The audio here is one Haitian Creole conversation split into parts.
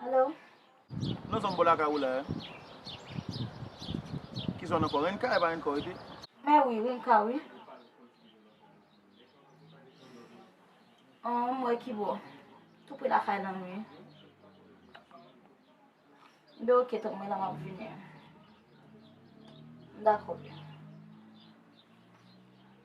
Hello. Nan zon bò lakay ou la a. Ki zòn ankò? Renka e pa Renkò rete? Mè wi, Renka wi. An, m wè ki bò. Tou pre lakay la m ye. Be ok tank mwen la m ap vini. Dakò.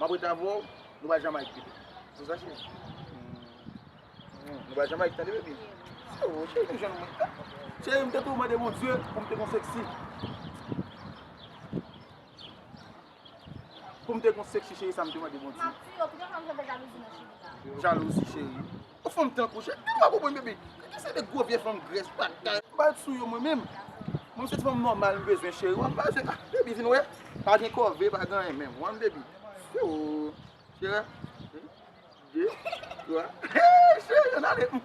Map ret avèw nou bay Jamaïque pito se sa cheri nou bay Jamaïque tande baby oh cheri nou jwenn mwen cheri mte tou mande Bondye poum te gon sexy poum te gon sexy cheri sa mte mande Bondye jalouzi cheri. Yon fanm tankou Jay m pa konprann baby Kiki se de gwo vye fanm grès pa ka. M pa ret sou yo mwen menm. Mwen se ti fanm nòmal m bezwen cheri wan m pa bezwen ah baby vin wè pa gen kòve pa gen anyen menm wan baby ooh cheri an yn de twa hee cheri an ale humm.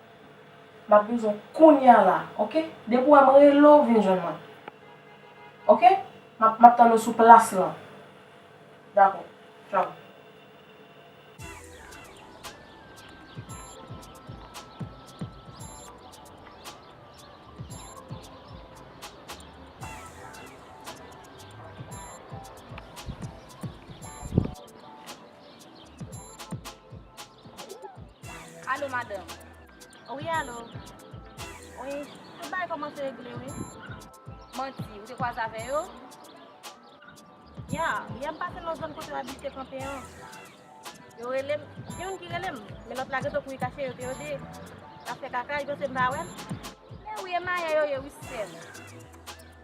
Map vin jwenn kounya la ok depi ou wèm rele w vin jwenn mwen ok map map tann ou sou plas lan dakò tchau. Alo madanm. Wi alo. Wi, tout bagay kòmanse regle wi. Manti, ou te kwaze avè yo? Ya, yè m pase nan zòn kote yo abite kanpe an. Yo rele m, gen youn ki rele m, men lòt la gentan kouri kache, yo te yo de ap fè kaka, li panse m pa wè l. Men wi e mayè yo ye wi sè m.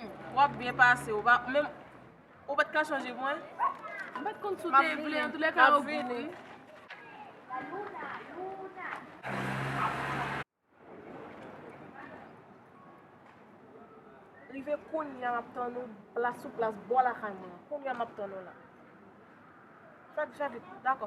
Hum, wap byen pase, ou pa menm Ou pat ka chanje pou mwen? M pat konn si w te vle, antoulèka yo gou wi. Rive kounya map tann ou plas sou plas bò lakay mwen an. Kounya map tann ou la. Fèk javit, dakò.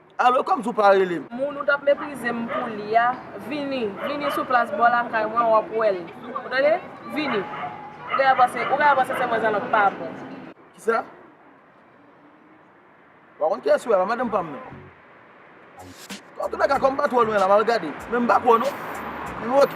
Alo kòmsi ou pa rele m. Moun ou tap meprize m pou li a vini vini sou plas bò lakay mwen wap wè l ou tande vini ou genlè panse ou genlè panse se mwen zannòt pa bon. Kisa? M pa konn kiyès ou ye la madanm pa m nan. Antounèka kòm m pa twò lwen la m al gade men m pa kwè w non. Anyway ok.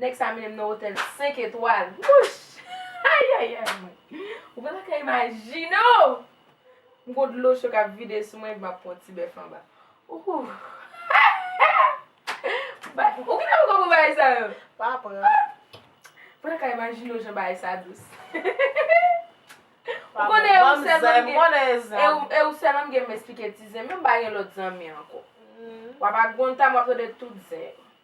Nèg sa mennen m nan otèl 5 etwal. Wouch! Ayayay mwen! Ou pa ta ka imajine o! M gon dlo cho k ap vide sou mwen epi m ap pran yon ti bèf anba. Ooh! Bagay Ou kite m konprann bagay sa yo! Pa pran. Ou pa ta ka imajine o jan bagay sa dous. Ou konnen e ou sèlman m gen E ou sèlman m gen pou m esplike ti zen m yo, m pa gen lòt zanmi ankò. W ap ak Gonta m ap tande tout zen yo.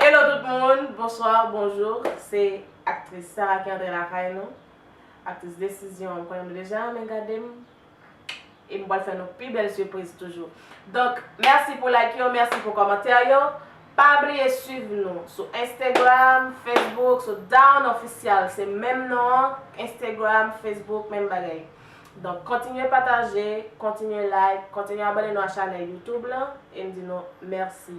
Hello tout moun, bonsoir, bonjour se aktris Sarah ki antre lakay nou aktris desizyon m konnen nou deja renmen gade m e m pral fè nou pi bèl sipriz toujou donk mèsi pou like yo mèsi pou kòmantè yo pa bliye swiv nou sou Instagram Facebook sou Dawn Official se menm non an Instagram Facebook menm bagay donk kontinye pataje kontinye like kontinye abòne nou a chanèl YouTube lan e m di nou mèsi.